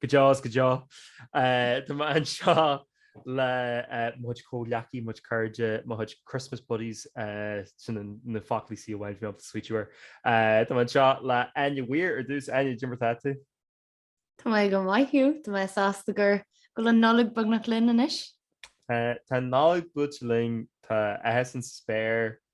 Go deo is go deo. Tá mé anseo le mo chuid comhghleacaithe, mo chuid cairde, mo chuid Christmas buddies, sin na foclaí sin amháin a bhí mé ag smaoitiú air. Tá mé anseo le Áine Ní Mhaoir ar dtús. Áine, cad é mar atá tú? Tá mé go maith Hugh, tá mé sásta gur go bhfuil an Nollaig beagnach linn anois. Tá an Nollaig buailte linn, tá féith sa spéir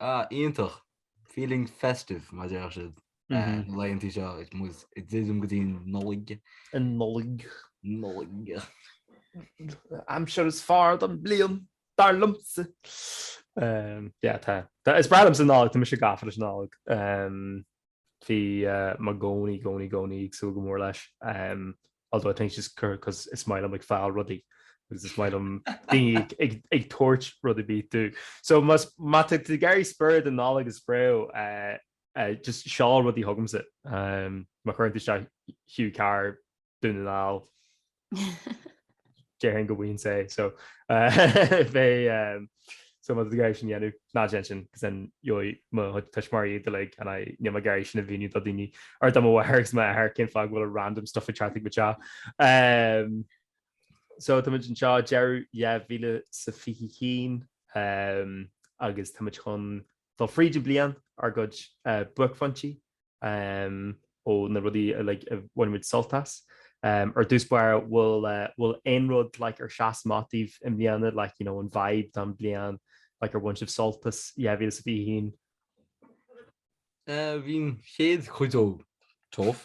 Ah, iontach! Feeling festive, mar a deir siad, laethanta seo. ag druidim go dtí an Nollaig. An Nollaig. Nollaig. Aimsir is fearr den bliain, dar liomsa. Yeah, tá. Is breá liomsa an Nollaig, tá mise gafa leis an Nollaig. Bhí mé i gcónaí, i gcónaí, i gcónaí ag súil go mór leis. Although I think just cos is maith liom ag fáil rudaí agus is maith liom daoine ag ag tabhairt rudaí daofa. So más má tá tú ag iarraidh spiorad na Nollag a spread just seol rudaí chugamsa. Má chuireann tú isteach Hugh Carr Dún na nGall. Déarfainn go bhfaighinn é so beidh so má tá sibh ag iarraidh sin a dhéanamh ná déan sin cos then gheobhaidh mo thuismitheoirí iad uilig and I níl mé ag iarraidh sin a mhíniú do dhaoine or do mo mháthair agus m'athair cén fáth go bhfuil a random stuff ag teacht ag mo theachsa. So tá muid anseo deireadh 2021 agus tá muid chun dul fríd an bhliain ár gcuid buaicphointí um ó na rudaí a like a bhain muid sult as um ar dtús báire bhfuil uh bhfuil aon rud like ar sheas amach daoibh i mbliana like you know an vibe den bliain like ar bhain sibh sult as 2021? Uh bhí an chéad chuid dó tough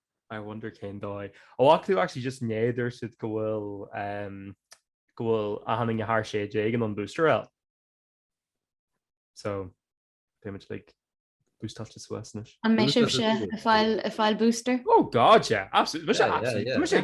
I wonder cén fáth. Ó ar chuala tú actually just inné dúirt siad go bhfuil ehm go bhfuil achan duine thar 16 in ann an booster a fháil. So beimid like boostáilte suas anois. An mbeidh sibhse ag fáil ag fáil booster? Oh god yeah absolutely beidh sé absolutely beidh sé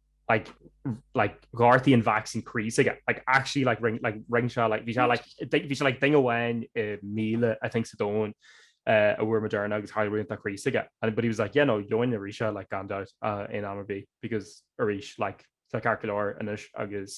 like like gortaíonn an vaccine croí s' aige like actually like rinne like rinne sé like bhí sé like bhí sé like duine amháin i míle I think sa domhan uh, a fuair Moderna agus tharla rud don croí s' aige and but he was like yeah no gheobhainn arís é like gan doubt uh, in am ar bith because arís like tá sé ceart go leor anois agus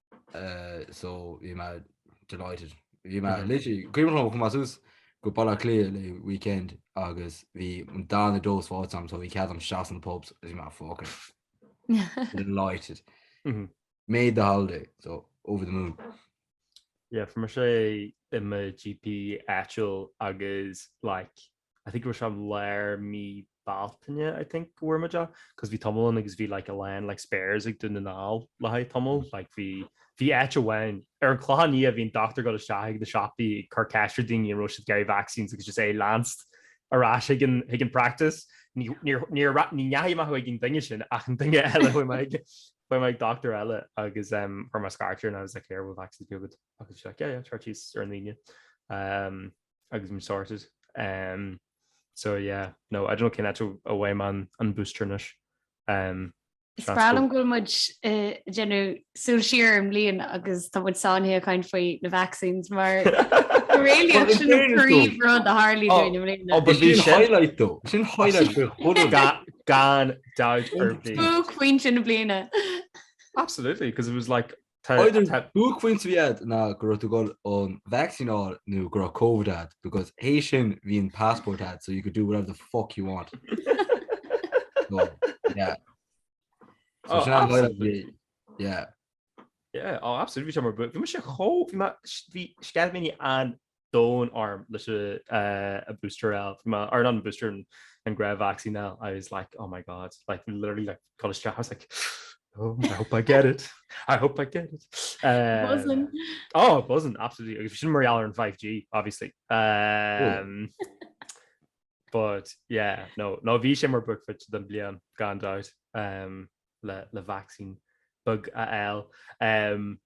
so bhí mé delighted. Bhí mé literally cuimhin liom chuaigh mé suas go Baile Átha Cliath le weekend agus bhí an dá dose faighte agam so bhí cead agam isteach sna pubs agus bhí mé fucking delighted. Made the holiday so over the moon. Yeah, fuair mise i mo GP áitiúil agus like I think it was from lár mí Bealtaine I think go bhfuair muid é cos bhí tamall ann agus bhí like a lán like spares ag Dún na nGall le haghaidh tamaill like bhí bhí áit amháin ar an Clochán Liath bhí an dochtúir ag dul isteach ag na siopaí ag cur ceist ar daoine an raibh siad ag iarraidh vaccines agus just é leanstan ar ais ag an ag an practice ní níor níor ra ní dheachaigh mé chuig an duine sin ach an duine eile chuaigh mé ag chuaigh mé ag dochtúir eile agus em chuir mé scairt air and I was like here bhfuil vaccines ar bith agat agus bhí sé like yeah yeah sure cheas ar an Aoine em agus bhí mé sorted. Em so yeah no I don't know cén áit a bhfaighidh mé an an booster anois. Em Is breá liom go bhfuil muid ag déanamh súil siar an mbliain agus tá muid sáinnithe ag caint faoi na vaccines mar go réalaíoch Well, in sin an fairness though, príomhrud a tharla oh, dúinn i mbliana. oh, but Is sin bhí sin highlight though. Is sin oh, highlight sin faoi chúl an ga, gan dabht ar bith. Buaicphointe na bliana. Absolutely, because it was like Either buaicphointe a bhí agat ná go raibh tú ag dul an vacsaín a fháil nó go raibh Covid agat because tar éis sin bhí an passport agat so you could do whatever the fuck you want. So, yeah. So Oh, sin an bhaile absolutely. bhí- Yeah. Yeah, oh, absolutely. Bhí sé mar bu- bhí mé sé chó- bhí mé- bhí sceitimíní an don arm leis a booster el ma ar an booster an gra vaccine el I was like oh my god like literally like college staff I was like oh I hope I get it I hope I get it uh, wasn't oh it wasn't absolutely if you mar in 5g obviously um but yeah no no vi sé mar book fit den blian gan out um le le vaccine bug a el um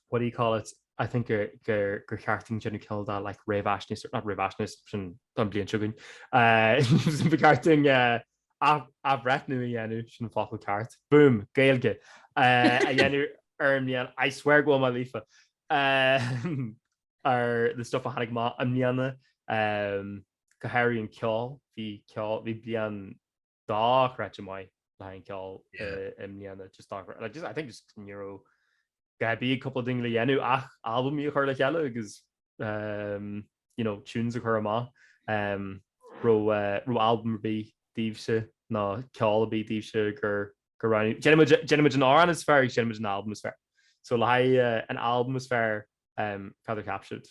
what do you call it, I think gur gur gur cheart dúinn déanamh cineál de like réamhaisnéis, not réamhaisnéis, sin don bliain seo chugainn, eh ba cheart duinn eh ath- athbhreithniú a dhéanamh, sin an focal ceart, boom, Gaeilge, eh a dhéanamh ar an mbliain, I swear go bhfuil mé líofa, eh ar the stuff a tháinig amach i mbliana, eh go háirithe an ceol, bhí ceol, bhí bliain, dochreidte maith le haghaidh an ceoil i mbliana just dochreidte like I think just ní raibh a dhath ar bith ag cúpla daoine le dhéanamh ach albamaí a chur le chéile agus ehm you know tunes a chur amach ehm raibh eh raibh albam ar bith daoibhse ná ceol ar bith daoibhse gur gur roghnaíodh déanfaidh muid déanfaidh muid an amhrán is fearr agus déanfaidh muid an albam is fearr so le haghaidh eh an albam is fearr ehm cad a cheap sibh?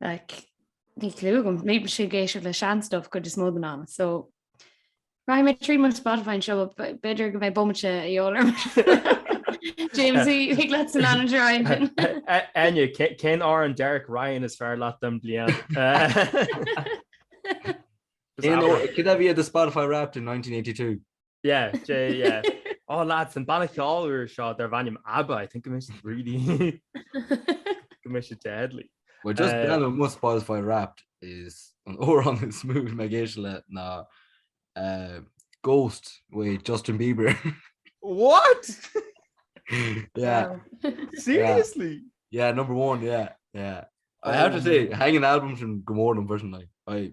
Like, níl clue agam, bímse ag éisteacht le sean stuff cuid is mó den am, so rachaidh mé trí mo Spotify anseo b'fhéidir go mbeidh bomaite a dhíobháil orm James thig leatsa an Ryan. Áine, cén amhrán Derek Ryan is fearr leat den bliain? Cé a bhí ar do Spotify Wrapped in 1982? Yeah, Jay, yeah. Oh lads, an banna ceol úr seo dar bhainm ABBA, I think I must really... go mbeidh sé deadly. Well just uh, now my Spotify Wrapped is an órán is mú me géise le ná uh, Ghost with Justin Bieber. What? yeah. Seriously? Yeah. yeah, number one, yeah, yeah. I have to say, hanging albums from Gomorrah and Burton, like, I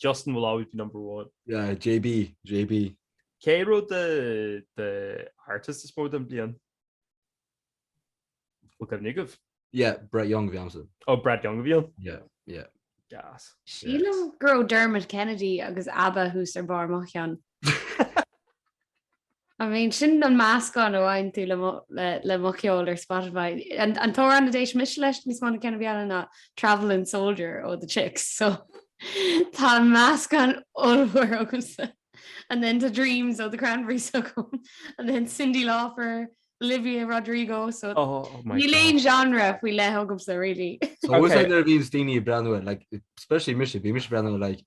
Justin will always be number one. Yeah, JB, JB. Cé raibh do, do artist is mó den bliain? Bhfuil cuimhne agat? Yeah, Brett Young a bhí agamsa. Oh, Brett Young a bhí ann? Yeah, yeah. Gas. Sílim go raibh Dermot Kennedy agus Abba thuas ar barr mo cheann. I mean, sin an meascán a fhaigheann tú le mo, le mo cheol ar Spotify. An, an t-amhrán a d'éist mise leis níos mó ná ceann ar bith eile ná Travelin' Soldier ó The Chicks, so tá an meascán ollmhór agamsa. And then tá Dreams ó The Cranberries agam, and then Cyndi Lauper, Olivia Rodrigo, so níl aon genre faoi leith agamsa really. Is dócha nuair a bhíonns daoine ag breathnú ar, like, especially mise, bíonn mise ag breathnú ar like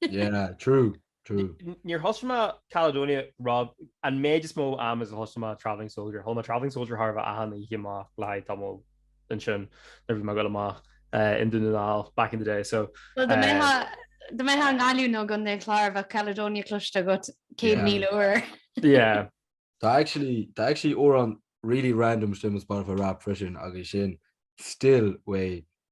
Yeah, true, true. Níor thosaigh mé Caledonia, Rob, an méid is mó am is a thosaigh mé Travelling Soldier. Chuala mé Travelling Soldier chóir a bheith achan oíche amach le haghaidh tamall ansin nuair bhí mé ag dul amach i nDún na nGall back in the day, so. Well, dá mbeifeá i nGaillimh nó i gContae an Chláir bheadh Caledonia cloiste agat céad Yeah. míle uair. Yeah. Tá actually, tá actually amhrán really random istigh i mo Spotify Wrapped freisin agus sin Still Way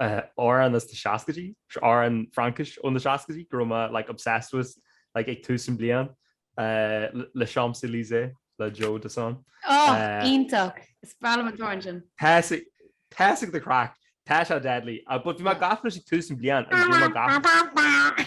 amhrán as na seascaidí, amhrán Fraincis ó na seascaidí go raibh mé like obsessed with like ag tús an bliain, Les Champs Elysées le Joe Dassin. Oh, iontach! Is breá liom an t-amhrán sin. Tá sé good craic, tá sé deadly, but bhí mé gafa leis ag tús an bliain agus bhí mé gafa.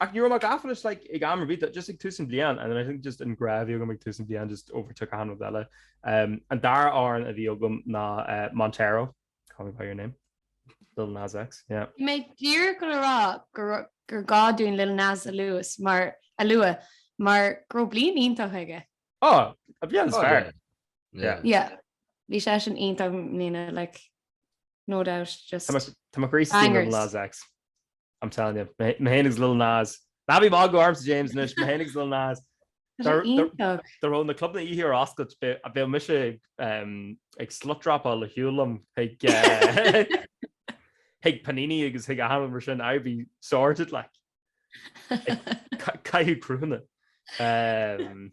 Ach ní raibh mé gafa leis like ag am ar bith eile, just ag tús an bhliain and then I think just an grá a bhí agam ag tús an bhliain just overtook achan rud eile. Umm an dara amhrán a bhí agam ná eh Montero, call me by your name, Lil Nas X, yeah. Bhí mé díreach ag dul a rá gur gá dúinn Lil Nas a lua mar a lua mar go raibh bliain iontach aige. Oh an bhliain is fearr, yeah. Yeah bhí seisean iontach mbliana like no doubt just Tá mé crazy faoi Lil Nas X. I'm telling you. Mé fhéin agus Lil Nas. Ná bí ag magadh ormsa James anois, mé fhéin agus Lil Nas. Tá sé Dar- dar- iontach. Dá raibh na clubanna oíche ar oscailt bhí- bheadh mise em, ag slutdropáil ar shiúl liom chuig eh, chuig Panini agus chuig achan rud mar sin I'd be sorted like. Ca- Caitheadh cruthúna. Em,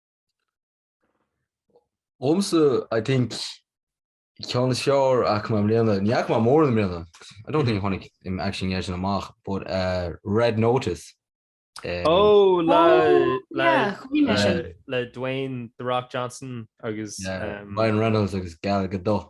Liomsa I think ceann is fearr a bhfaca mé i mbliana, ní fhaca mé mórán i mbliana, I don't think a tháinig um actually dheireadh sin amach, but uh, Red Notice. Um, Ó le Oh, le yeah, chuaigh mé le sin. le Dwayne The Rock Johnson agus Yeah, um, Ryan Reynolds agus Gal Gadot.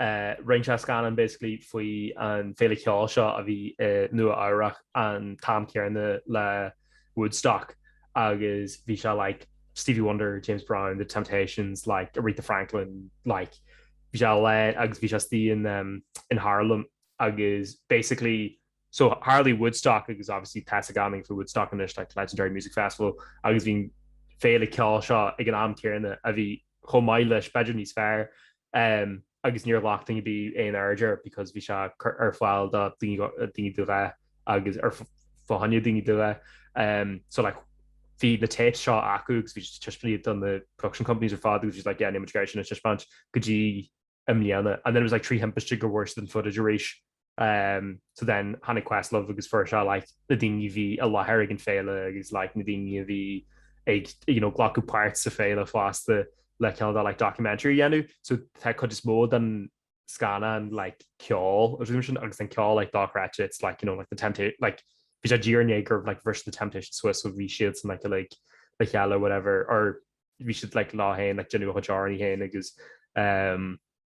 rinne sé scannán basically faoi an Féile Cheoil seo a bhí i Nua Eabhrach an t-am céanna le Woodstock agus bhí sé like Stevie Wonder, James Brown, The Temptations, like Aretha Franklin, like bhí sé le agus bhí sé istigh in um in Harlem agus basically so tharlaigh Woodstock agus obviously tá a fhios againn faoi Woodstock anois like legendary music festival agus bhí an Féile Ceoil seo ag an am céanna a bhí chomh maith leis b'fhéidir níos fearr em, agus níor ghlac duine ar bith aon aird air because bhí sé ar, ar fáil do daoine, daoine de dhath agus ar, faoi choinne daoine de dhath. Em, so like bhí na tapes seo acu agus bhí siad á dtaispeáint do na production companies ar fad agus bhí siad like yeah, níl muid ag iarraidh sin a thaispeáint go dtí i mbliana. And then it was like trí thimpiste gur bhfuair siad an footage arís. Um so then tháinig Questlove agus fuair sé like na daoine a bhí i láthair ag an féile agus like na daoine a bhí ag you know glacadh páirt sa féile fosta le cineál like documentary a dhéanamh so tá cuid is mó den scannán like ceol agus rud sin agus an ceol like dochreidte it's like you know like the Temptations like bhí sé díreach i ndiaidh gur like bhris the Temptations suas so bhí siad ansin like like le chéile whatever or bhí siad like leo fhéin like ag déanamh a chuid amhráin fhéin agus um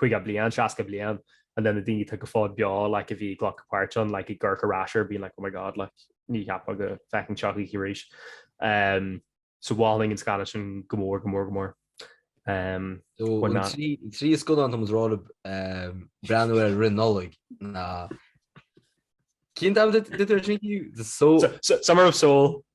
50 bliain, 60 bliain and then na daoine atá go fóill beo like a bhí ag glacadh páirt ann like ag amharc ar ais air being like oh my god like níor cheap mé go bhfeicfinn seo choíche arís. Umm so ba mhaith liom an scannán sin go mór go mór go mór. Umm So why an not? trí trí scannán atá muid ag rá le ehm, breathnú air roimh an Nollaig ná cén ceann a dúirt tú ansin inniu? The Soul So, so, Summer of Soul,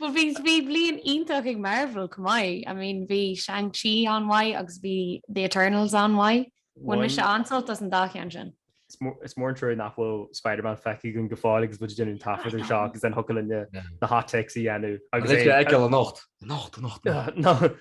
Bhuel bhí, bhí bliain iontach ag Marvel chomh maith. I mean bhí Shang Chi an-mhaith agus bhí The Eternals an-mhaith. Bhain mise an-sult as an dá cheann sin. Is mór an trua nach bhfuil Spider-Man feicthe againn go fóill agus muid ag déanamh an taifeadadh seo agus then thiocfadh linne na hot takes a dhéanamh. Anocht, anocht, anocht!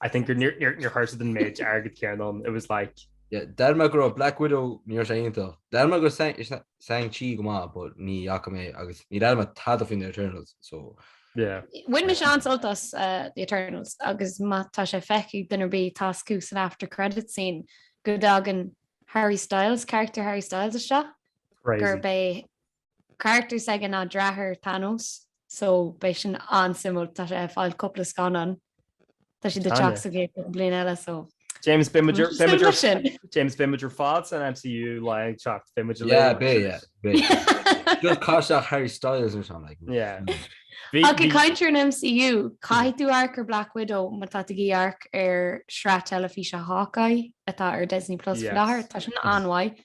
I think gur níor níor níor shaothraigh sé an méid airgid céanna, it was like, Yeah, Dar me go raibh Black Widow níor raibh sé iontach. Dar me go raibh Shang-Chi go maith, but ní fhaca mé agus níor léigh mé tada faoin The Eternals, so yeah. Bhain mise an-sult as eh, The Eternals agus má tá sé feicthe ag duine ar bith tá a fhios acu san after credit scene go dtagann Harry Styles, character Harry Styles isteach Crazy. gurb é carachtar s'aige ná deartháir Thanos. So beidh sin an-suimiúil. Tá sé ag fáil cúpla scannán. Tá siad ag teacht sa gcéad cúpla bliain eile so. James beidh muid ar beidh muid ar James beidh muid ar fad san MCU lá ag teacht beidh muid lú. Beidh yeah beidh. Just caith isteach Harry Styles nó something like that. Yeah. Ach ag caint ar an MCU, caithfidh tú amharc ar Black Widow má tá tú ag amharc ar shraith teilifíse Hawkeye atá ar Disney Plus faoi láthair. Tá sin an-mhaith.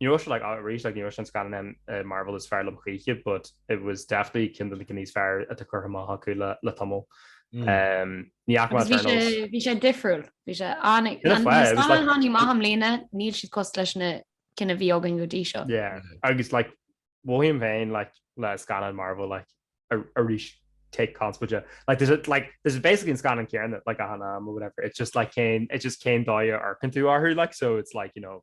Ní raibh sé arís ní raibh sé an scannán Marvel is fearr liom choíche but it was definitely ceann de na níos fearr atá curtha amach acu le le tamall. Hmm. Um, ní bhí sé difriúil bhí sé an-mhaith i mbliana níl siad cosúil leis na cinn a bhí againn go dtí seo. agus like dom féin like le scannáin Marvel like arís take conspóideach like there's a, like there's basically an scannán céanna like achan am or whatever it's just like cén it's just cén dóigh a n-amharcann tú orthu like so it's like you know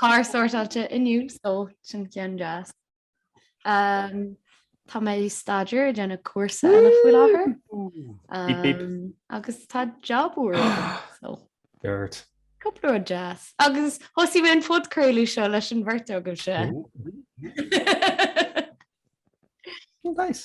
Carr sórtáilte inniu so sin ceann deas. Umm tá mé ag staidéar ag déanamh cúrsa eile faoi láthair Beep beep. umm agus tá job úr agam so cúpla rud deas. Agus thosaigh mé an podchraoladh seo leis an bheirt agaibhse. Nice.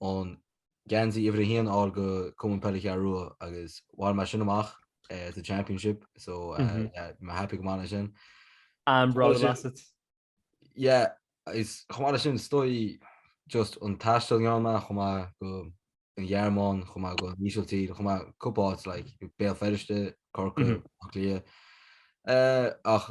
an geansaí uimhir a haon a fháil do Cumann Peile Ceathrú Rua agus bhain mé sin amach eh, sa championship so eh, Mhm. yeah, mé happy go maith leis sin. I'm proud of Well, Bassett. Yeah, is chomh maith leis sin is dóigh just an taisteal a dhéan mé chuaigh mé go an Ghearmáin, chuaigh mé go an Ísiltír, chuaigh mé cúpla áit like Béal Feirste, Corcaigh, Mhm. Áth Cliath. Eh, ach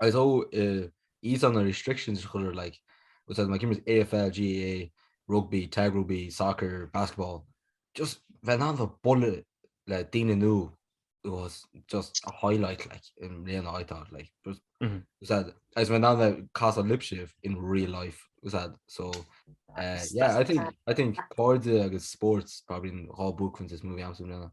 agus ó these are the restrictions chuir like was that my game was AFL GA rugby tag rugby soccer basketball just van aan the bullet le dine nu it was just a highlight like in real I thought like was mm -hmm. was that as my now that cast a lip shift in real life was that so uh, yeah I think I think card agus sports probably in all book when this movie I'm now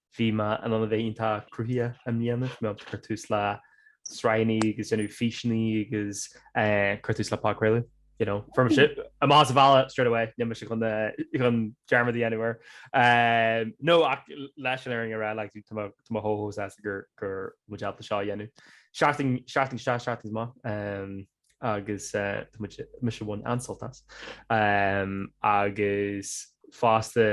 Bhí mé in ann a bheith iontach cruthaitheach i mbliana, bhí mé ag cur tús le sraitheanna agus déanamh físeanna agus cur tús le podchraoladh, you know, fuair mise sibhse a mhealladh straight away, níl mise chun dearmad a dhéanamh air. No, ach leis an fhírinne a rá, like, tá mé chomh sásta go raibh muid ábalta seo a dhéanamh. Seachtain, seachtain isteach, seachtain amach. agus tá muid, mise ag baint an-sult as. Agus fosta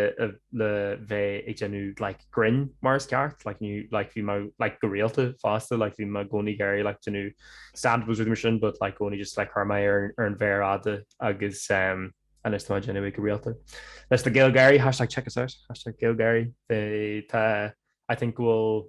le bheith ag déanamh like grinn mar is ceart like ní like bhí mé like go rialta fosta like bhí mé i gcónaí ag iarraidh like déanamh stand-ups is mar sin but like i gcónaí just like chuir mé é ar an mhéar fhada agus um, anois tá mé á dhéanamh go rialta. Leis na GaelGÁIRÍ hashtag check us out hashtag GaelGÁIRÍ tá I think bhfuil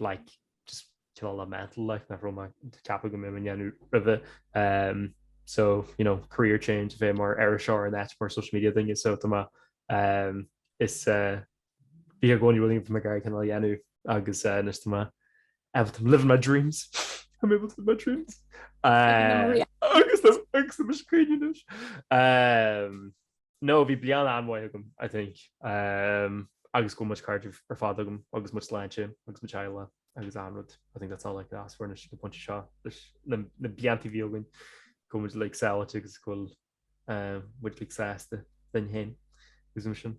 like just cineál le mental like nach raibh mé ag ceapadh go mbeadh mé ag déanamh roimhe um, so you know career change a bheith mar iriseoir in áit mar social media duine so tá mé um, is uh, bhí i gcónaí rudaí mé ag iarraidh cineál a dhéanamh agus uh, anois tá mé I'm living my dreams I'm able to live my dreams uh, agus agus tá mé scríneanais um, No, bhí bliain an-mhaith agam, I think. Agus go bhfuil mo chairde ar fad agam agus mo shláinte agus mo theaghlach agus achan rud. I think that's all I could ask for anois ag an bpointe seo leis na blianta a bhí againn, go bhfuil muid like sábháilte agus go bhfuil muid like sásta linn fhéin agus mar sin.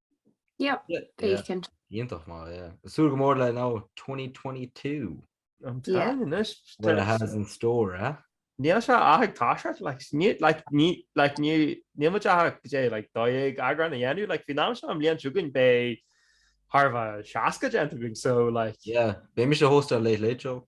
Yep, Yeah, yeah. Bacon. Iontach maith, yeah. Súil go mór le now 2022. I'm Yeah. telling you, this- What it has in store, eh? Níl sé ach tá sé, like, ní, like, ní, like, ní, níl muid ach i ndiaidh, like, dó dhéag eagrán a dhéanamh, like, faoin am seo an bhliain seo chugainn beidh thar 60 déanta againn, so, like, Yeah. Beidh mise ag hostáil an Late Late Show.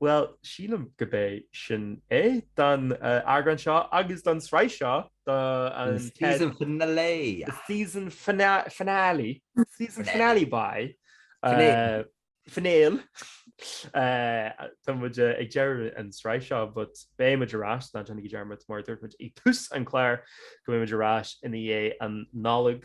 Bhuel, sílim gurb é sin é don eagrán seo agus don sraith seo do an tsraith. The season finale. The season finale. Season finale bye. Finale. Tá muid ag deireadh an sraith seo but beidh muid ar ais ná déanaigí dearmad mar a dúirt muid ag tús an chláir go mbeidh muid ar ais ina dhiaidh an Nollaig.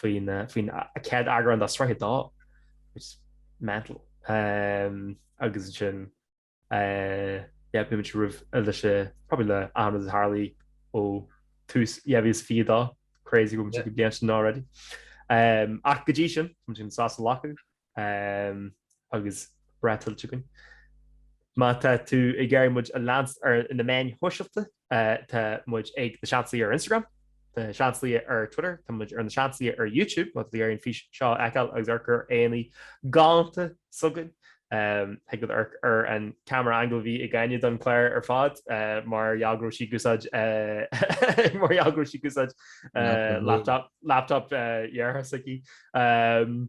faoin faoin chéad eagrán de sraith a dó which is mental. Ehm agus ansin eh yeah beidh muid réidh leis probably le Ahmed Harley ó tús dhá mhíle is fiche dó crazy go bhfuil muid ag go bliain sin already. Ehm ach go dtí sin tá muid ag dul sos a ghlacadh. Ehm, agus breá tuillte againn. Má tá tú ag iarraidh muid a leanstan ar na meáin shóisialta, eh, tá muid ag Na Seansálaithe ar Instagram, Na Seansálaithe ar Twitter, tá muid ar Na Seansálaithe ar YouTube, má tá tú ag iarraidh an fís seo a fheiceáil agus amharc ar aghaidheanna galánta s'againn. Ehm, thig leat amharc ar an camera angle a bhí ag Áine don chlár ar fad, eh, mar gheall go raibh sí ag úsáid, eh, mar gheall go raibh sí ag úsáid, eh, laptop, laptop, eh, dheartháir s'aici. Ehm.